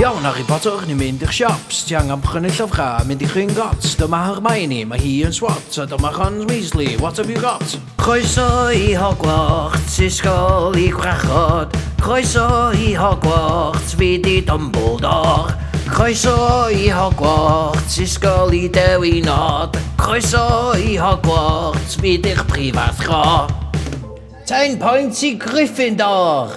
Iawn, Harry Potter, ni'n mynd i'ch siops. Ti angen prynu llyfrau a mynd i Gringotts. Dyma Hermione, mae hi yn swat, a dyma Ron Weasley. What have you got? Croeso i Hogwarts, ysgol i gwrachod. Croeso i Hogwarts, fi di Dumbledore. Croeso i Hogwarts, ysgol i dewi nod. Croeso i Hogwarts, fi di'ch prifathro. Ten pwynt i Gryffindor!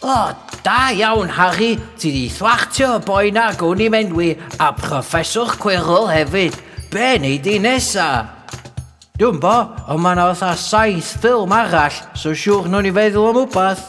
O, da iawn, Harry. Ti di thwachtio y boi na gwn i'n enwi, a Professor Quirrell hefyd. Be nei di nesa? Dwi'n bo, ond mae yna fatha saith ffilm arall, so siwr nhw'n i feddwl am wbath.